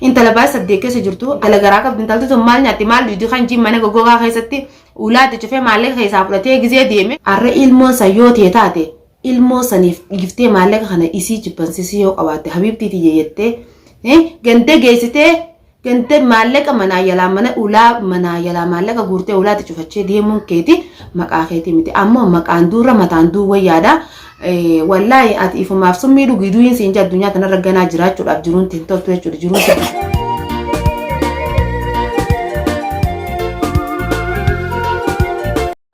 Intala baay'ee saddeet keessa jirtu intala garaa qabdi intalti sun maal nyaatti maal dhugdi kan jiin mana goggogaa keessatti ulaatti cufee maallaqa keessaa fudhatee gizee deeme. Arra ilmoon san yoo tee taate ilmoo saniif dhiiftee maallaqa kana isii jibbansisii yoo qabaatte habiibtii tiyya jettee ganda geessitee ganda maallaqa manaa yalaa mana ulaa manaa yalaa maallaqa guurtee ulaatti cufachee deemuun keeti maqaa keetii miti ammoo maqaan duurra mataan duuwwan yaada Wallaahi ati ifumaaf summii dhugi du'iin siin jedha addunyaa tanarra ganaa jiraachuudhaaf jiruun hin toltu jechuudha jiruun siin.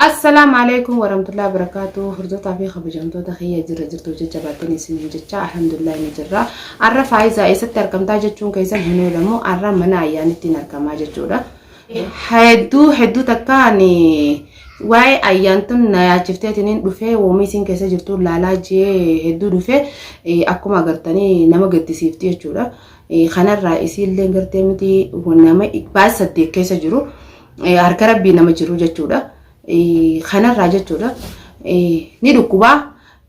Assalaamu alaikum warahmatullahi wabarakatuh hordoftoota fi kabajamtoota kiyya jirra jirtu jecha baatanii isiniin jecha alhamdulillah ni jirra arra faayizaa eessatti argamtaa jechuun keessan hin oolamu arra mana ayyaanittiin argamaa jechuudha. Hedduu hedduu takka ani waa'ee ayyaantun na yaachifteetiniin dhufee woomii isin keessa jirtu laalaa jee hedduu dhufee akkuma agartanii nama gaddisiifti jechuudha. Kanarraa isiillee gartee miti nama baay'ee saddeet keessa jiru harka rabbii nama jiru jechuudha. Kanarraa jechuudha ni dhukkubaa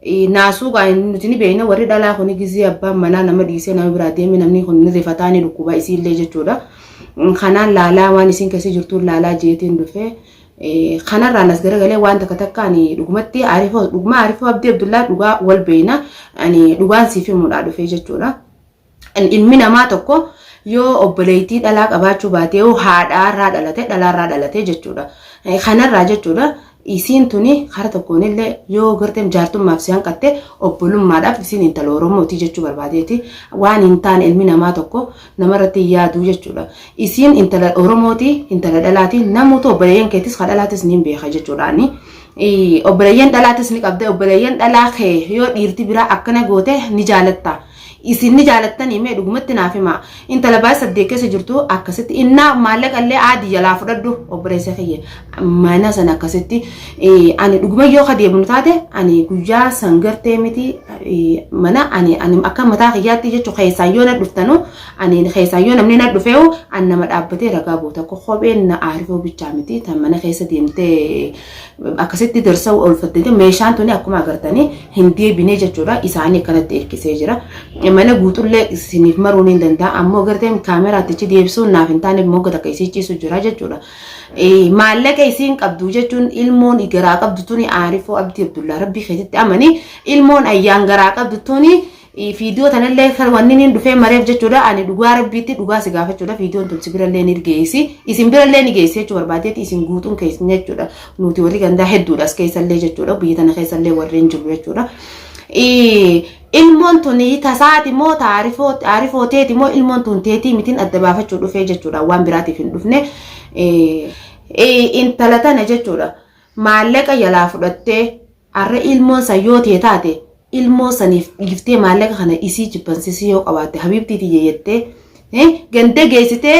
Naasuu gaa nuti ni beekna warri dhalaa kuni gizii abbaan manaa nama dhiisee nama biraa deeme namni kun ni rifataa ni dhukkuba isiillee jechuudha. Kanaan laalaa waan isiin keessa jirtuun laalaa jeetiin dhufe. Kanarraan as garagalee waan takka takka ani dhugumatti Arifoo dhuguma Arifoo Abdii Abdullaa dhugaa wal beekna ani dhugaan siif himuudhaa dhufe jechuudha. Ilmi namaa tokko yoo obboleettii dhalaa qabaachuu baate yoo haadhaarraa dhalate dhalaarraa dhalate jechuudha. Kanarraa jechuudha isiin tuni kara tokkoon illee yoo gartee jaartummaaf si hanqatte obbolummaadhaaf isiin intala Oromooti jechuu barbaadeeti. Waan hin taane ilmi namaa tokko namarratti hin yaadu jechuudha. Isiin intala Oromooti intala dhalaati namuutu obboleeyyan keetis ka dhalaatis ni beeka jechuudha ani. Obboleeyyan dhalaatis ni qabda obboleeyyan dhalaa kee yoo dhiirti biraa akkana goote ni jaalatta. Isin ni jaalattanii mee dhugumatti naaf himaa intala baay'ee saddeet keessa jirtu akkasitti innaa maallaqa illee aadi jalaa fudhadhu obboleessa kiyya mana sana akkasitti ani dhuguma yoo ka deemnu taate ani guyyaa san gartee miti mana ani ani akka mataa kiyyaatti jechuun keessaa yoo na dhuftanu ani keessaa yoo namni na dhufeewu an nama dhaabbatee ragaa booda kopheen na aarifuu bichaa miti tan mana keessa deemtee akkasitti darsa oolfattee meeshaan tuni akkuma agartanii hin deebinee jechuudha isaanii akkanatti hirkisee jira mana guutullee isiniif maruu ni danda'a ammoo garteen kaameraatichi deebisuun naaf hin taaneef mogga takka isii ciisu jira jechuudha maallaqa isiin qabdu jechuun ilmoon garaa qabdu tuni aarifoo abdii abdullaa rabbii keessatti amanii ilmoon ayyaan garaa qabdu tuni Fiidiyoo tanallee kan wanni niin dhufee mareef jechuudha ani dhugaa rabbiitti dhugaa si gaafachuudha fiidiyoon tun si birallee ni geessi isin birallee ni geessi jechuu barbaadeeti isin guutuun keessan jechuudha nuti warri gandaa hedduudha as keessallee jechuudha biyya tana keessallee warreen jiru jechuudha. Ilmoon tun tasaati moo taarifoo teeti moo ilmoon tun teetii mitiin adda baafachuu dhufee jechuudha waan biraatiif hin dhufne intala tana jechuudha maallaqa jalaa fudhattee Arra ilmoon san yoo tee taate ilmoo saniif dhiiftee maallaqa kana isii jibbansisii yoo qabaatte habiibtii tiyya jettee eh, ganda geessitee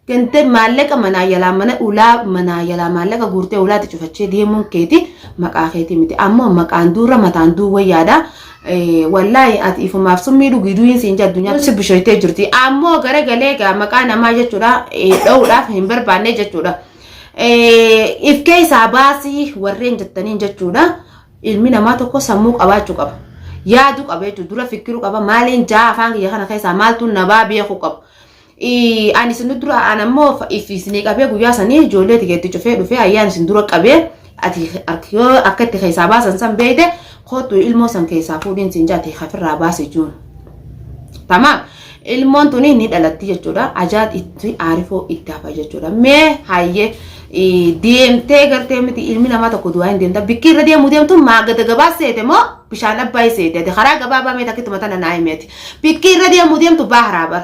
ganda maallaqa manaa jalaa mana ulaa manaa jalaa maallaqa guurtee ulaatti cufachee deemuun keeti maqaa keetii miti ammoo maqaan duurra mataan duuwwa yaada eh, wallaahi ati ifumaaf summii dhugii du'iin siin jedhu addunyaa si bushoytee jirti ammoo garagalee gaa maqaa namaa jechuudha eh, dha'uudhaaf hin barbaanne jechuudha. if keessaa baasii warreen jettaniin jechuudha ilmi namaa tokko sammuu qabaachuu qaba yaadu qaba jechuudha dura fikiruu qaba maaliin jaa afaan kiyya kana keessaa maaltu nabaa beekuu qaba ani isin dura an ammoo if isinii qabee guyyaa sanii ijoollee tikeetti cufee dhufee ayyaan isin dura qabee Ati ark yoo akka itti keessaa baasan san beeyte kootu ilmoo san keessaa fuudhiin siin jaati hafirraa baasi juun. Tamaam ilmoon tuni ni dhalatti jechuudha. Ajaad itti aarifoo itti hafa jechuudha. Mee hayyee deemtee gartee miti ilmi namaa tokko du'aa hin deemta. Bikki irra deemu deemtu maa gada gabaa seete moo bishaan abbaayii seete. Ati karaa gabaabaa meeti akkittuma tana naa himeeti. Bikki irra deemu deemtu baaharaa bar.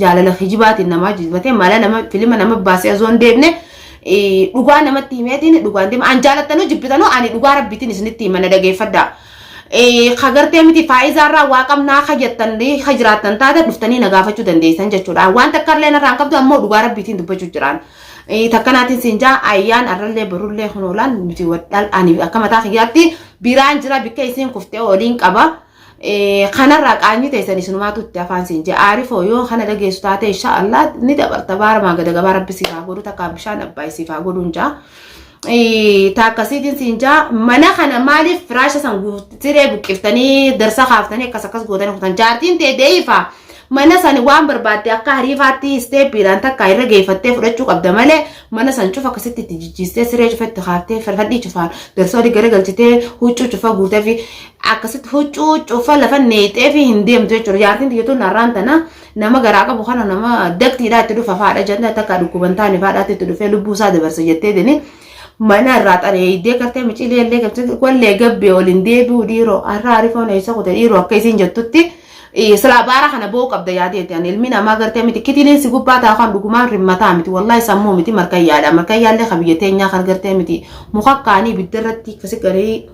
jaalala kijibaatiin namaa jibbatee mala nama filima nama baasee osoo hin deemne eh, dhugaa namatti himeetiin dhugaan deema an jaalattanuu jibbitanuu ani dhugaa rabbiitiin isinitti hima na dhageeffadha. Eh, Ka gartee miti faayizaarraa waa qabnaa ka jettan eh, ka jiraattan taate dhuftanii na gaafachuu dandeessan jechuudha. Waan takka illee narraan qabdu ammoo dhugaa rabbiitiin dubbachuu jiraan. Eh, Takka naatiin siin jaa ayyaan arrallee barullee kun oolaan nuti wadhaal ani akka mataa kiyyaatti biraan jira bikka isiin kuftee oliin qaba. kanarraa qaanyi teessan isinumaatu itti afaan siin jee aarifoo yoo kana dhageessu taate insha Allah ni dabarta baaramaa gada gabaa rabbi siif haa godhu takka bishaan abbaa siif haa godhu hin jaa taakka siitiin siin jaa mana kana maaliif firaasha san siree buqqiftanii darsa kaaftanii akkas akkas gootanii kutan jaartiin tee deeyifa mana san waan barbaadde akka hariifaatti isteeppiidhaan takka irra geeffattee fudhachuu qabda malee mana san cufa akkasitti itti jijjiistee siree cufa itti kaaftee farfadhii cufaan darsa olii gara galchitee huccuu cufa guutee fi akkasitti huccuu huccuu uffaa lafa neexee fi hin deemtu jechuudha. Jaartiin tiyya tun har'aan tana nama garaa qabu kana nama daktiidhaa itti dhufa faadha jennee takka dhukkuban taane faadhaatti itti dhufee lubbuu isaa dabarsa jettee dini mana irraa xareeydee gartee miciilee illee gartee wallee gabbee waliin deebi'u dhiiroo har'a arifoon eessa kute dhiiroo akka isiin jettutti silaa baara kana ba'uu qabda yaadeeti ani ilmi namaa gartee miti kitiliin si gubbaa taa'u kan dhugumaan rimmataa miti wallaahi sammuu miti markayyaadha markayyaallee kan biyya teenyaa kan gartee miti muka kaanii ibidda irratti kasi garii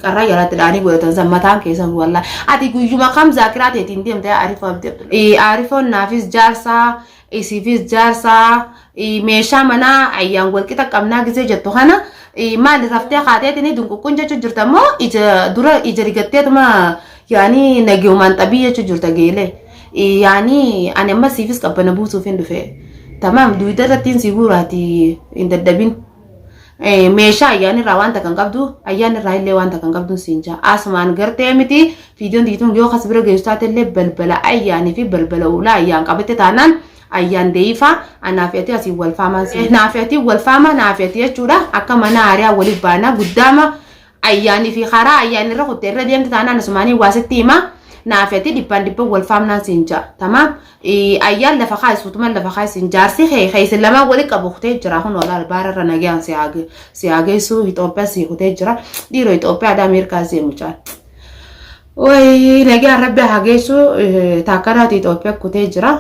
Carraa jalaatti dhaanii godhatan san mataan keessan wallaa. Ati guyyuma kam zaakiraa teetiin deemte Arifaa Abdi Abdul. Arifoon naafis jaarsaa isiifis jaarsaa meeshaa manaa ayyaan walqixa qabnaa gisee jettu kana maali raftee kaateetiin dunquqqun jechuu jirta immoo ija dura ija rigatteetuma yaanii nageemaan xabii jechuu jirta geelee. Yaanii ani amma siifis qabbana buusuuf hin dhufe. Tamaam duwidda irrattiin si guuraati hin daddabin. meeshaa ayyaana irraa wanta kan qabdu ayyaana irraa illee wanta kan qabdu siin jaa asumaan gartee miti viidiyoon diituun yoo kas bira geessu taate illee balbala ayyaanii fi balbala ulaa ayyaan qabatte taanaan ayyaan deeyifaa anaaf yatii asiin wal faamaan siin naaf yatii wal faamaa naaf yatii jechuudha akka mana aariyaa waliif baanaa guddaama Ayyaanii fi karaa ayyaanii irra kutte irra deemte taanaan asumaanii waa sitti hima naafi ati dhibbaan dhibban wal faamnaan siin ja'a tamaam ayyaan lafa kaa'e suutuman lafa kaa'e siin jaarsi kee kee isin lamaan wali qabu kutee jira kun walaal baara irra nagaan si haa geessu Itoophiyaa si kutee jira dhiiroo Itoophiyaa dhaa Ameerikaa si mucaan. Wayii nagaan rabbi haa geessu taakkaraati Itoophiyaa kutee jira.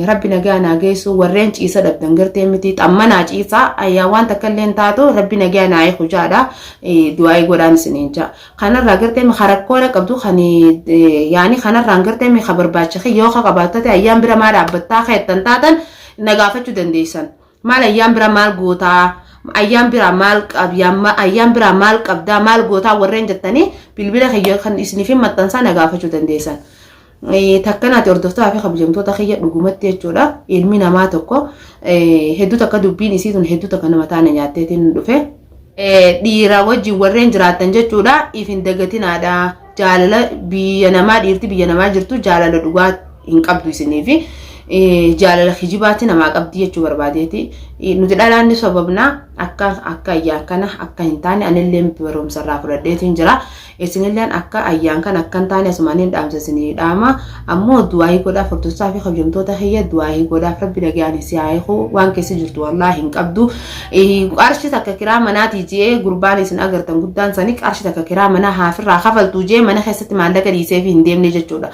Rabbi nagaan haa geessu warreen ciisa dhabdan gartee miti xammanaa ciisaa ayyaa waan takka illee hin taatu rabbi nagaan haa eegu jaadha du'aa'ii godhaan isiniin jaa. Kanarraa gartee mi rakkoona qabdu kan yaani kanarraan gartee mi ka barbaacha kee yoo ka qabaattate ayyaan bira maa dhaabbattaa keettan taatan na gaafachuu dandeessan. maal ayyaan bira maal gootaa ayyaan bira maal qabyaa ayyaan bira maal qabdaa maal gootaa warreen jettanii bilbila kiyya kan isiniif hin maxxansaa na gaafachuu dandeessan. Takkanaati hordoftoota fi kabajamtoota kiyya dhugumatti jechuudha ilmi namaa tokko hedduu takka dubbiin isii tun hedduu takka nama taana nyaatteetiin dhufe. dhiiraa wajjin warreen jiraattan jechuudha if hin dagatinaadha jaalala biyya namaa dhiirti biyya namaa jirtu jaalala dhugaa hin qabdu isiniif jaalala kijibaatti namaa qabdi jechuu barbaadeeti nuti dhalaan ni sobamna akka akka ayyaa kana akka hin taane anillee barumsa irraa fudhadheetiin jira Isinilleen akka ayyaan kan akkan taane asumanin dhaamsa isinii dhaama ammoo du'aayii godhaa furdossaa fi kabjamtoota kiyya du'aayii godhaaf rabbi nagayaan isii haa hiiku waan keessa jirtu wallaahi hin qabdu qarshi takka kiraa manaatii jee gurbaan isin agartan guddaan sanii qarshi takka kiraa manaa haafirraa kafaltuu jee mana keessatti maallaqa dhiisee fi hin deemne jechuudha.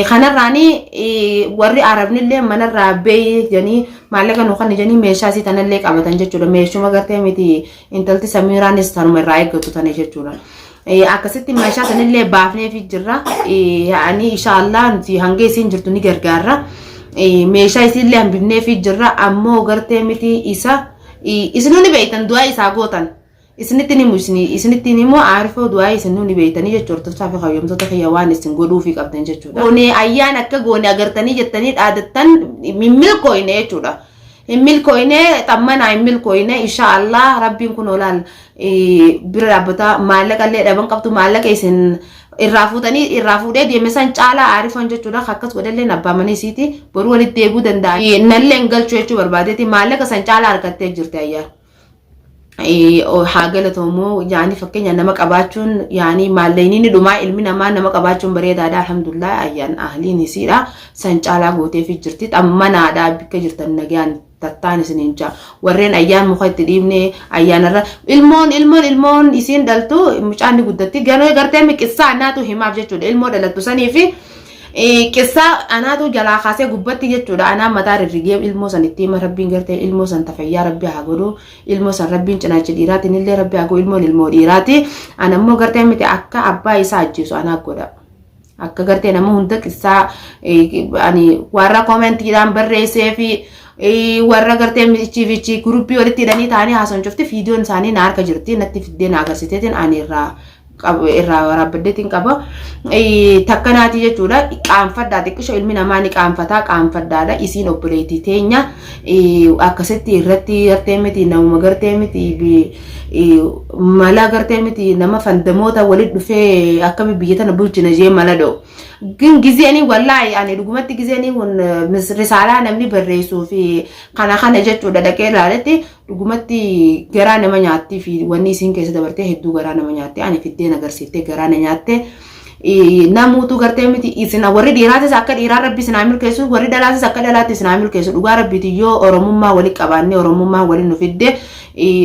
kanarraani warri arabnillee manarraa bee janii maallaqa nu kan janii meeshaa isii tanallee qabatan jechuudha meeshuma gartee miti Intalti Samiiraanis tanuma irraa eeggatu tane jechuudha. Akkasitti meeshaa sanillee baafneefi jirra. Ani inshaallah nuti hanga isiin jirtu ni gargaarra. Meeshaa isiillee hambifneefi jirra. Ammoo gartee miti isa isinuu ni beektan du'aa isaa gootan. Isinitti ni muusni isinitti ni moo aarifoo du'aa isinuu ni beektanii jechuudha. Hortoftaa fi hayyamtoota kiyya waan isin godhuufi qabdan jechuudha. Goonee ayyaan akka goone agartanii jettanii dhaadattan milkooyne jechuudha. hin milkooyne xammanaa hin milkooyne insha allah rabbiin kun olaal bira dhaabbata maallaqa illee dhaban qabdu maallaqa isin irraa fuutanii irraa fuudhee deeme san caalaa aarifan jechuudha akkas godhallee abbaamanii isiiti boru walitti deebuu danda'a nallee hin galchu jechuu barbaadeeti maallaqa san caalaa argattee jirti ayyaa haa galatoomu yaani fakkeenya nama qabaachuun yaani maalleyni ni dhumaa ilmi namaa nama qabaachuun bareedaadha alhamdulillah ayyaan ahliin isiidha san caalaa gooteefi jirti xammanaadha bikka jirtan nagaan tattaan isiniin jaa warreen ayyaan muka itti dhiibne ayyaanarra ilmoon ilmoon ilmoon isiin dhaltu mucaan ni guddatti garuu gartee miqissaa annaatu himaaf jechuudha ilmoo dhalattu saniifi Qissaa anaatu jalaa kaasee gubbatti jechuudha anaa mataa rirrigee ilmoo san itti hima rabbiin gartee ilmoo san tafayyaa rabbi haa godhu ilmoo san rabbiin cinaacha dhiiraatiin illee rabbi haa godhu ilmoon ilmoo dhiiraati ana immoo gartee miti akka abbaa isaa ajjeesu anaa godha. Akka gartee nama hunda qissaa ani warra koomentiidhaan barreessee fi warra gartee michii fi gurubbii walitti hidhanii taa'anii haasan cufti viidiyoon isaanii na harka jirti natti fiddee na agarsiiseetiin ani irraa irraa waraabaddeetiin qaba. Takka naati jechuudha. Qaanfadhaa xiqqisho ilmi namaa ni qaanfataa qaanfadhaadha. Isiin obboleettii teenya akkasitti irratti gartee miti namuma gartee miti mala gartee miti nama fandamoota walit dhufee akkami biyya tana bulchina jee mala dhoo. Gin gizee ani wallaahi ani dhugumatti gizee ani risaalaa namni barreessuu fi kana kana jechuudha dhaqee ilaaletti Dhugumatti garaa nama nyaattii fi wanni isiin keessa dabartee hedduu garaa nama nyaatte ani fiddeen agarsiiftee garaa na nyaatte namuutu gartee miti isin warri dhiiraatis akka dhiiraa rabbi isin haa milkeessu warri dhalaatis akka dhalaatti isin haa milkeessu dhugaa rabbiitiin yoo oromummaa wali qabaannee oromummaa wali nu fidde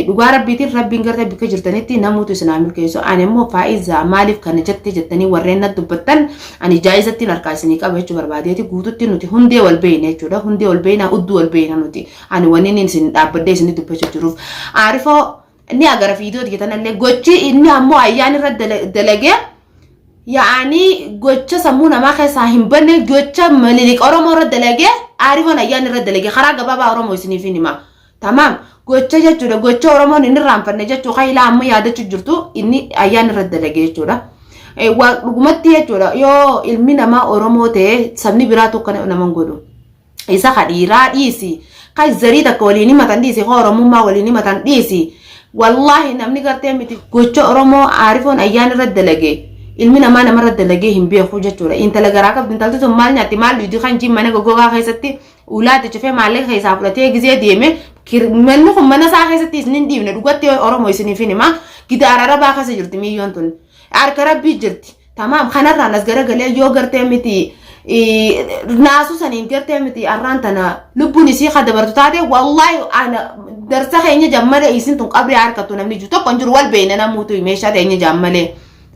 dhugaa rabbiitiin rabbiin gartee bakka jirtanitti namuutu isin haa milkeessu ani immoo faa'iza maaliif kana jette jettanii warreen na dubbattan ani jaa'izattiin harkaa isinii qaba jechuu barbaadeeti guututti nuti hundee wal beeyna jechuudha hundee wal beeyna udduu wal beeyna nuti Ani wani nin isin dhaabbadhee isinni dubbacha jiruuf aarifoo ni agara fiidiyoo tiyya tanallee gochi inni ammoo ayyaan irra dalagee yaa'anii gocha sammuu namaa keessaa hin banne gocha mililik oromoo irra dalagee aarifoon ayyaan irra dalagee karaa gabaabaa oromoo isiniif hin himaa tamaam gocha jechuudha gocha oromoon hin irraanfanne jechuu kailaa amma yaadachu jirtu inni ayyaan irra dalagee jechuudha. Waa dhugumatti jechuudha yoo ilmi namaa oromoo ta'e sabni biraa tokko nama hin godhu. isa ka dhiiraa dhiisi ka zarii takka waliin himatan dhiisi ka oromummaa waliin himatan dhiisi wallaahi namni gartee miti gocha oromoo aarifoon ayyaan irra dalage ilmi namaa nama irra dalagee hin beeku jechuudha intala garaa qabdi intalti sun maal nyaatti maal dhuydi kan jiin mana goggogaa keessatti ulaatti cufee maallaqa keessaa fudhatee gizee deeme manni kun mana isaa keessatti isin hin dhiibne dhugatti oromoo isiniif hin hima gidaara rabaa keessa jirti miiyyoon tun harka rabbii jirti Tamaam kanarraan as garagalee yoo gartee miti naasuu saniin gartee miti arraan tana lubbuun isii ka dabartu taate wallaahi ana darsa keenya jammale isin tun qabrii harkattu namni jiru tokko hin jiru wal beeyna namuutu meeshaa teenya jammale.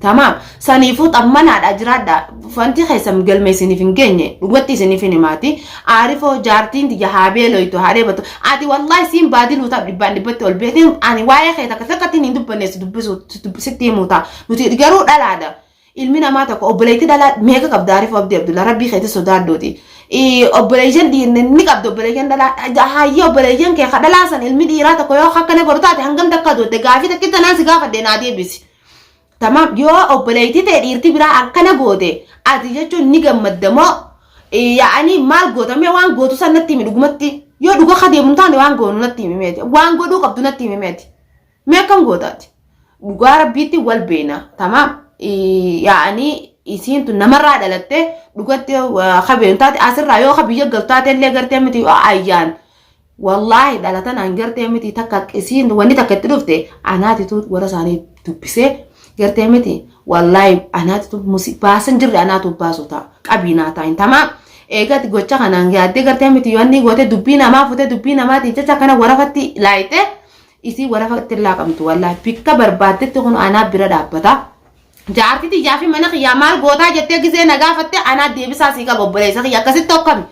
Tamaam saniifuu xammanaadha jiraadha fanti keessan galma isiniif hin geenye dhugatti isiniif hin himaati aarifoo jaartiin tiyya haabee loytu haadhee batu ati wallaahi siin baadiluu ta'a dhibbaan dhibbatti ol beetiin ani waa'ee kee takka takkatti hin dubbanne si dubbisuu sitti himuu ta'a Nuti garuu dhalaadha. Ilmi namaa tokko obboleettii dhalaa meeqa qabda Arifuu Abdii Abdullaa rabbii keetti sodaadhuuti. Obboleeyyan dhiirri ni qabda obboleeyyan dhalaa hayyee obboleeyyan kee ka dhalaa san ilmi dhiiraa tokko yoo akka ne godhu taate hangam takka duutte gaafii takki tanaan si gaafadhe naa deebisi. Tamaam yoo obboleettii ta'e dhiirti biraa akkana goote ati jechuun ni gammadda moo yaa'anii maal gootamee waan gootu san natti himi dhugumatti yoo dhuga ka deemu taane waan goonu natti himi meeti waan godhuu qabdu natti himi meeti. Mee akkam goota ati? Dhugaa rabbiitti wal beena. Tamaam. Yaa'anii isiintu namarraa dhalattee dhugatti kabeenu taate asirraa yoo ka biyya galtu taate illee gartee miti yoo ayyaan. Wallaahi dhalatan an gartee miti takka isiin wanni takka itti dhufte anaatitu warra isaanii dubbisee gartee miti wallaahi anaatitu baasan jirre anaatu baasu ta'a qabiinaa taa'in tamaam. Eegatti gocha kanaan yaaddee gartee miti yoo inni gootee dubbii namaa futee dubbii namaatiin jecha kana warafatti laayitee Isii warafa itti hin laaqamtu wallahi bikka barbaaddetti kun anaa bira dhaabbata. Jaartii tiyyaa fi mana kiyyaa maal gootaa jettee gisee na gaafatte anaa deebisaa sii qaba obboleessa kiyya akkasitti hokkami.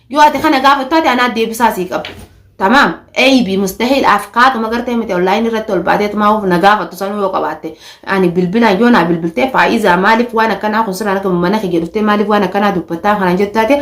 Yoo ati kana gaafattu ati anaa deebisaa sii qaba. Tamaam eeyibii mustahiil afkaatuma gartee miti onlaayinii irratti ol baatee tumaa of na gaafattu sanuu yoo qabaatte ani bilbilaan yoo naa bilbiltee faayiizaa maaliif waan akkanaa kun siraan akka mana kiyya dhuftee maaliif waan akkanaa dubbattaa kana jettu taate